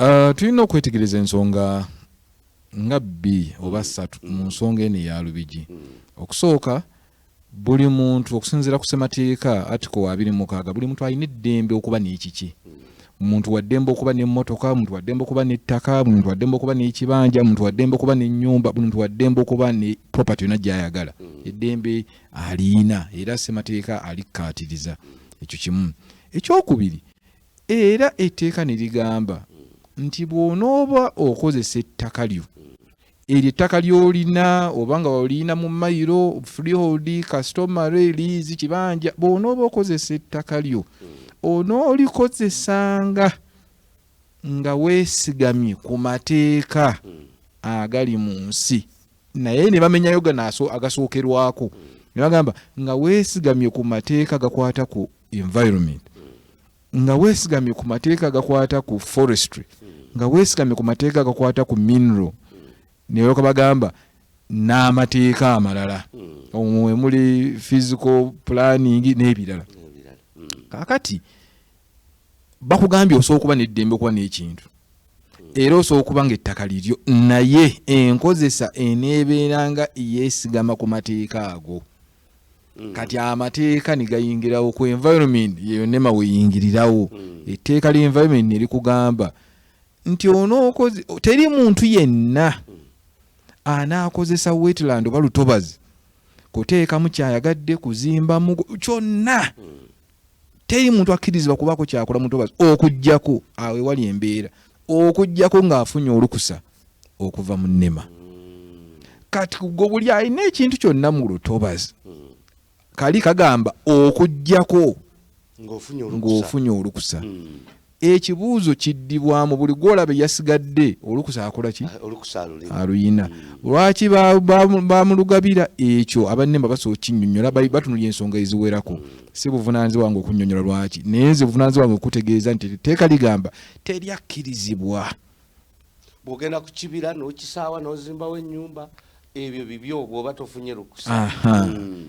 Uh, tulina okwetegereza ensonga nga bbi oba ssatu mm. mu nsonga eno eya lubigi mm. okusooka buli muntu okusinziira ku semateeka atiko wa abiri mukaaga buli muntu alina eddembe okuba n'ekiki mm. muntu waddembe okuba n'emmotoka muntu waddembe okuba n'ettaka muntu waddembe okuba n'ekibanja muntu waddembe okuba n'ennyumba muntu waddembe okuba ne property yona gyayagala eddembe aliina era semateeka alikkaatiriza ekyo kimu ekyokubiri Era etteeka ne ligamba nti bw'onooba okozesa ettaka lyo eryo ettaka ly'olina oba nga olina mu mayiro freehold customary lease kibanja bw'onooba okozesa ettaka lyo onoolikozesanga nga weesigamye ku mateeka agali mu nsi naye ne bamenyayo gano agasookerwako ne bagamba nga weesigamye ku mateeka gakwata ku environment nga weesigamye ku mateeka agakwata ku forestry nga weesigamye ku mateeka agakwata ku mineral ne balyoka bagamba n'amateeka amalala hmm. omwo emuli physical planning n'ebirala hmm. kakati bakugambye osobola okuba neddembe okuba n'ekintu era osobola okuba nga ettaka liryo naye enkozesa eneebeeranga yeesigama ku mateeka ago mm. kati amateeka negayingirawo ku environment yeyonema weyingirirawo mm. etteeka lya environment nerikugamba nti onookoze teri muntu yenna mm. anaakozesa wetland oba lutobazi kuteekamu kyayagadde kuzimbamu kyonna teri muntu akkirizibwa kubaako kyakola mutobazi okujjako awo ewali embeera okujjako ng'afunye olukusa okuva mu nema kati gwe buli alina ekintu kyonna mu lutobazi kali kagamba okujjako ng'ofunye olukusa hmm. Ekibuuzo kiddibwamu buli gwolaba eyasigadde olukusa akola ki? Ah, aluyina. Hmm. Lwaki bamulugabira ekyo? Abannemba basobola okinyonyola, batunulya ensonga eziwerako. Hmm. Si buvunanyizibwa wange okunyonyola lwaki, naye nze buvunanyizibwa wange okutegeeza nti etteeka ligamba teri akkirizibwa. Bwogenda ku kibira n'okisaawa n'ozimbawo ennyumba ebyo bibyo bwoba tofunye lukusa. Hmm.